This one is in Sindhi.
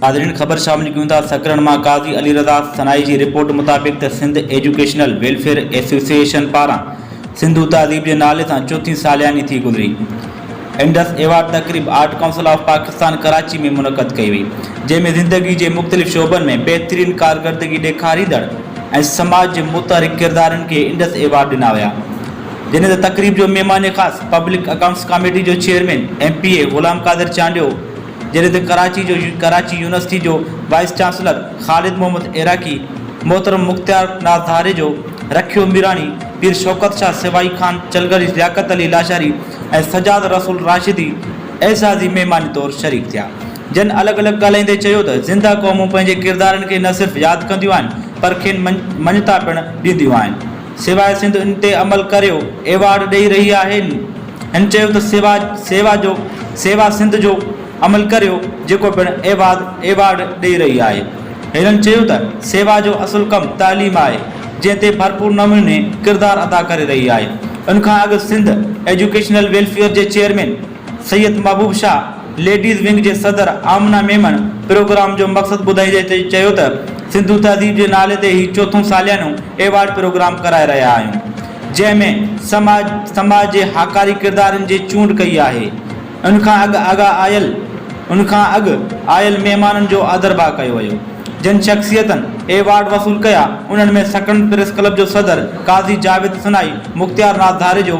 ناظرين خبر شامل ڪيون ٿا سڪرن مان قاضي علي رضا سنائي جي رپورٽ مطابق ته سنڌ ايجوڪيشنل ويلفيئر ايسوسيئيشن پاران سنڌو تهذيب جي نالي سان چوٿين سالياني ٿي گذري انڊس ايوارڊ تقريب art council of Pakistan Karachi ۾ منعقد ڪئي وئي جنهن ۾ زندگي جي مختلف شعبن ۾ بهترين ڪارگردگي ڏيکاريندڙ ۽ سماج جي متحرڪ ڪردارن کي انڊس ايوارڊ ڏنا ويا جنھن تي تقريب جو مھمان خاص پبلڪ اڪائونٽس ڪاميٽي جو chairman M P A Ghulam Qadir Chandio, جنھن تي ڪراچي جو ڪراچي يونيورسٽي جو وائيس چانسلر خالد محمد عراقي، محترم مختيار ناز ڌاريجو، رکيو ميراڻي، پير شوڪت شاھ سوائي خان چلغري لياقت علي لاشاري ۽ سجاد رسول راشدي اعزازي مھمان طور شريڪ ٿيا جن الڳ الڳ ڳالھائيندي چيو ته زنده قومون پنھنجي ڪردارن کي نه صرف ياد ڪنديون آھن پر کين مڃتا پڻ ڏينديون آھن. سيوا سنڌ ان تي عمل ڪريو ايوارڊ ڏئي رهي آهن هن چيو ته سيوا سيوا جو سيوا سنڌ جو عمل ڪريو جيڪو پڻ ايواد ايوارڊ ڏئي رهي آهي هنن چيو ته سيوا جو اصل ڪم تعليم آهي جنهن تي ڀرپور نموني ڪردار ادا ڪري رهي آهي ان کان اڳ سنڌ ايجوڪيشنل ويلفيئر جي chairman Syed Mehboob Shah ladies wing جي صدر آمنه ميمڻ پروگرام جو مقصد ٻڌائيندي چيو ته سنڌو تهذيب جي نالي تي هي چوٿون ساليانو ايوارڊ پروگرام ڪرائي رهيا آهيون جنهن ۾ سماج سماج جي هاڪاري ڪردارن جي چونڊ ڪئي آهي ان کان اڳ اڳا آيل ان کان اڳ آيل مهمانن جو آڌرڀاء ڪيو ويو جن شخصيتن ايوارڊ وصول ڪيا انهن ۾ سڪرنڊ پريس ڪلب جو صدر قاضي جاويد سنائي مختيار ناز ڌاريجو